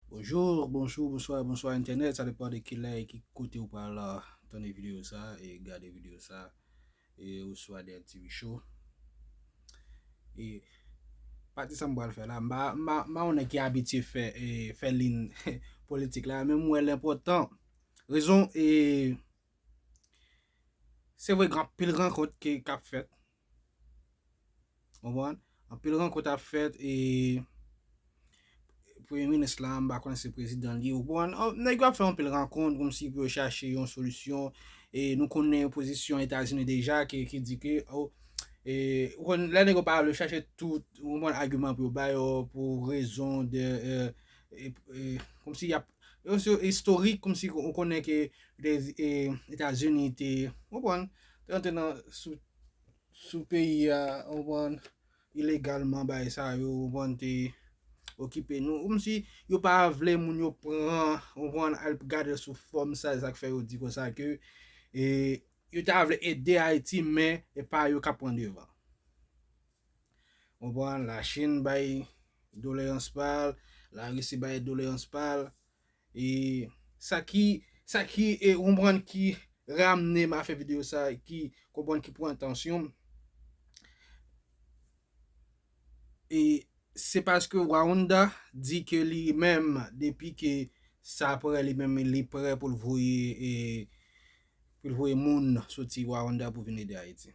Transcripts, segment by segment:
Bonjour, bonjou, bonswa, bonswa entènèt sa depan de kilè e ki kote ou pral tande video sa e gade video sa e oswa de TV show e pati sa m pral fè la m pa yon nèg ki abitye fè fè lin politik la men m wè l enpòtan rezon e se vre gen anpil rankont ki kap fèt Konprann? Anpil rankont ap fèt e premye minis la m pa konnen se prezidan li, ou konprann? Nèg yo ap fè anpil rankont kòm si pou yo chache yon solisyon e nou konnen pozisyon Etazini deja ki di ke ou konn lè nèg yo pa vle chache tout ou konprann agiman pou yo bay yo pou rezon de kòm si y ap yon se istorik kòm si ou konnen ke Etazini te ou konprann? Rantre nan sou sou peyi a ou konprann ilegalman bay sa yo ou konprann te okipe nou ou msi yo pa vle moun yo pran ou konprann al gadel sou fòm sa esak fè yo di konsa ke e yo ta vle ede ayiti men epa yo kap pran devan ou konprann la chine bay doleyans pal la risi bay doleyans pal E sa ki sa ki e konprann ki ramne m a fè video sa ki konprann ki pran atansyon m. E se paske Warounda di ke li menm depi ke sa prè li menm li prè pou l voye e pou l voye moun soti Warounda pou vin ede Ayiti.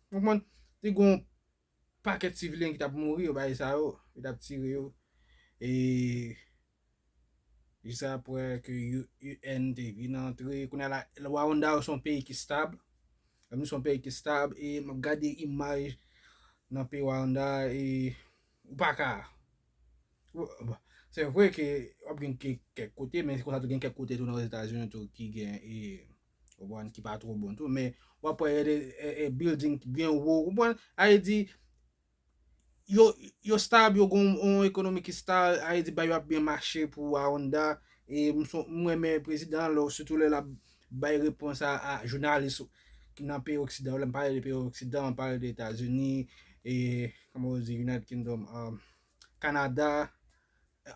Ou konprann? Te gen yon pakèt sivilyen ki t ap mouri, yo bay sa yo, yo t ap tire yo. E jis apre ke UN te vin antre, kounye a la, Rwanda se yon peyi ki stab, se yon peyi ki stab, e m ap gade imaj nan peyi Rwanda e ou pa ka. Se vre ke w ap gen kèk kote, men se konsa tou gen kèk kote tou nan Ozetazini tou ki gen e. Ou konprann? Ki pa two bon tou. Men, w ap wè gen de bilding ki byen wo. Ou konprann? A vle di, yo stab, yo gen yon ekonomi ki stab, a vle di bagay yo ap byen mache pou Aronda. E m renmen prezidan an lè, sitou lè l ap bay repons a jounalis ki nan peyi oksidan yo. Lè m pale de peyi oksidan, m pale de Etazini, e, kòman yo di, United Kingdom, Kanada,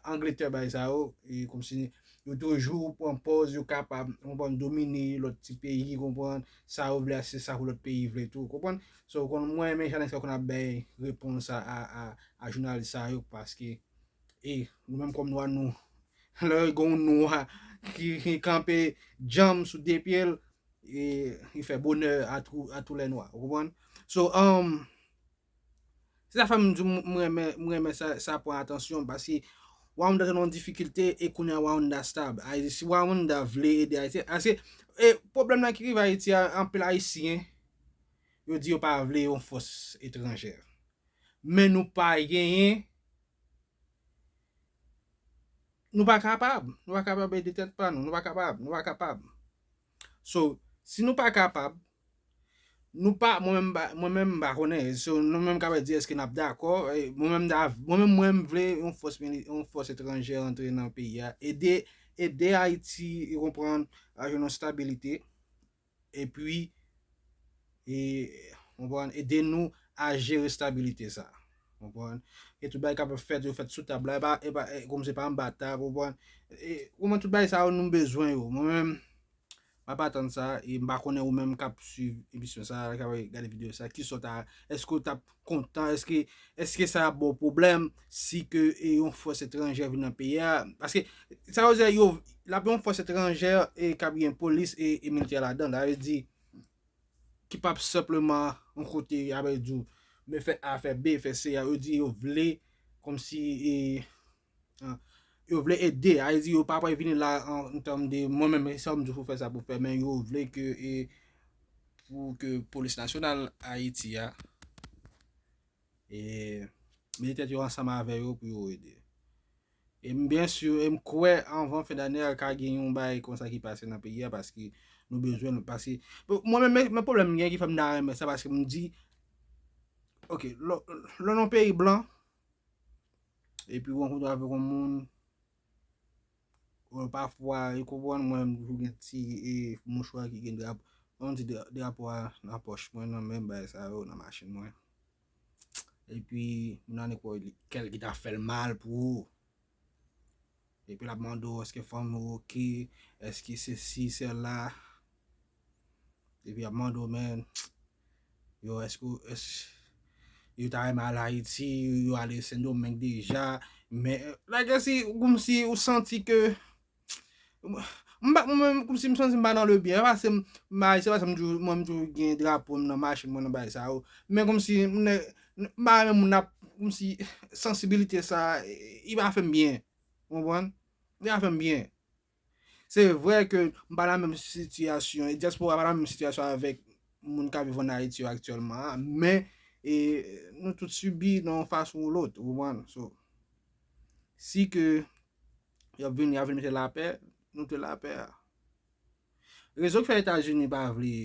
Angletè bay sa yo, e komsi yo toujou pran pòz yo kapab, konprann, domine lòt ti peyi, konprann, sa yo vle a se sa pou lòt peyi vle tou, konprann. So, konn mwen renmen jan nèg sa yo konn ap bay repons a, a, a, a jounalis sa yo paske, e, nou menm kòm nwa nou, lè gen yon nwa ki kanpe djanm sou de pye l, e, li fè bonè a tou, a tou lè nwa, ou konprann. So, anm, Se sa fèm diw m renmen m renmen sa pran atansyon paske Rwanda te nan yon difikilte e kounya Rwanda stab. Si Rwanda vle ede Ayiti paske e pwoblèm nan ki rive Ayiti a anpil Ayisyen yo di yo pa vle yon fòs etranjè. Men nou pa genyen nou pa kapab nou pa kapab ede tèt pa nou nou pa kapab nou pa kapab. So si nou pa kapab, nou pa mwen menm mwen menm m pa konnen so nou menm kapab di eske nap dakò mwen menm ta mwen menm mwen m vle yon fòs mili yon fòs etranjè antre nan peyi a ede ede Ayiti ou konprann a jwenn yon stabilite epi E konprann ede nou a jere stabilite sa konprann e tout bagay kapab fèt yo fèt sou tab la epa epa kòm se pa anba tab konprann e konprann tout bagay sa yo nou bezwen yo mwen menm map atann sa e mpa konnen ou menm kap swiv emisyon sa kap gade video sa kisa ou ta eske ou tap kontan eske eske sa ap baw pwoblèm si ke e yon fòs etranjè vin nan peyi a paske sa yo di a yo lap yon fòs etranjè e kap gen polis e militè ladan sa vle di ki pa p senpleman yon kote y ap di w men fè A, fè B, fè C. Yo di yo vle kòmsi e yo vle ede. A vle di yo pa pral vini la an tèm de mwen menm e sa m di w pou w fè sa pou w fè men yo vle ke e pou ke polis nasyonal Ayiti a e mete tèt yo ansanm avè yo pou yo ede. E m byen sur e m kwè anvan fen dane a ka gen yon bagay konsa ki pase nan peyi a paske nou bezwen l paske mwen menm men pwoblèm m gen ki fè m ta renmen sa paske m di ok lè w nan yon peyi blan epi w rankontre avèk yon moun ou pafwa ou konprann mwen m toujou gen ti e mouchwa ki gen drapo an ti drapo a nan pòch mwen nan men bagay sa yo nan machin mwen. Epi, moun nan nèk wè li, kèl ki ta fèl mal pou ou. Epi lap mande ou eske fanmi ou ok, eske sesi sela. Epi ap mande ou men, yo eske ou, eske yo ta renmen al Ayiti, yo ale Sendomeng deja. Men, like si, ou kòmsi ou santi ke. M pa mwen menm kòmsi m santi m pa nan le byen. Pase m bay se pa sa m toujou mwen m toujou gen drapo m nan machin mwen nan bagay sa yo. Men kòmsi m nè m pa renmen moun ap kòmsi sansibilite sa li pa fè m byen. Ou konprann? Li pa fè m byen. Se vre ke m pa nan menm sitiyasyon e dyaspora pa nan menm sitiyasyon avèk moun k ap viv ann Ayiti yo aktyèlman an. Men e nou tout sibi nan yon fason ou lòt. Ou konprann? So si ke Yap vini yap vini mete lapè, nou te lapè a. Rezon ki fè Etazini pa vle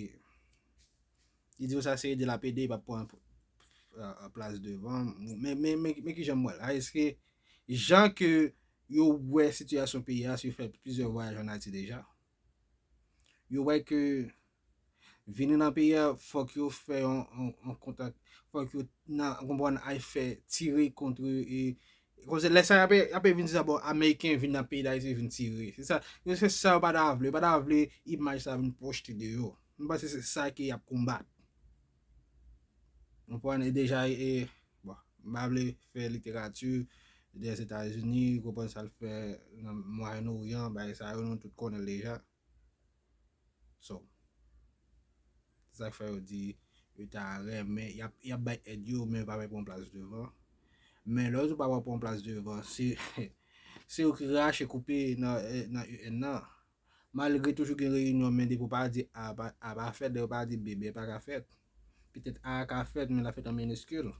li di yo sa se ede lap ede li pap pran plas devan men men men kijan m wè l a eske jan ke yo wè sitiyasyon peyi a se yo fè plizyè vwayaj an Ayiti deja yo wè ke Vini nan peyi a fòk yo fè yon kontak, fòk yo nan konpwann ay fè tire kontre e konse lè sa apè vin di sa bon ameriken vin nan peyi dayiti vin tire. Se sa, yo se sa yo pa ta vle, yo pa ta vle imaj sa vin pwojte de yo. Mwen panse se sa ke yap konbat. Mwen pwande deja e, bon, mwen pa vle fè literati de Etazini, konpwann sa l fè nan Mwayen Oryan, bay sa yo nou tout konnen deja. So, se sa k fè yo di yo ta renmen, y ap, y ap bay èd yo men yo pa vle pran plas devan. Men lè yo di yo pa vle pran plas devan, se, se yo ki rache koupe nan, nan UN nan. Malgre toujou gen reyinyon men depi yo pa di A, A pa fèt, depi yo pa di B, B pa ka fèt. Petèt A a ka fèt men l ap fèt an miniskil.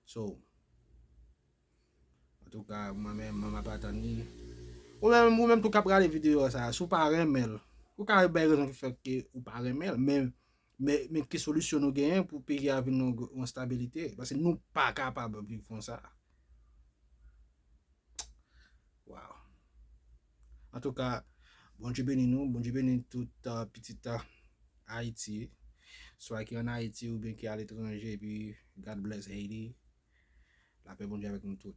So. Antouka mwen menm mwen map atann li. Ou menm ou menm tou kap gade video sa si w pa renmenl ou ka bay rezon ki fè ke ou pa renmenl men men ki solisyon nou genyen pou peyi a vin nan yon stabilite paske nou pa kapab viv konsa waw antouka Bondye beni nou Bondye beni tout pitit Ayiti swa ki an Ayiti oubyen ki aletranje epi God bless Haiti. Lapè Bondye avèk nou tout.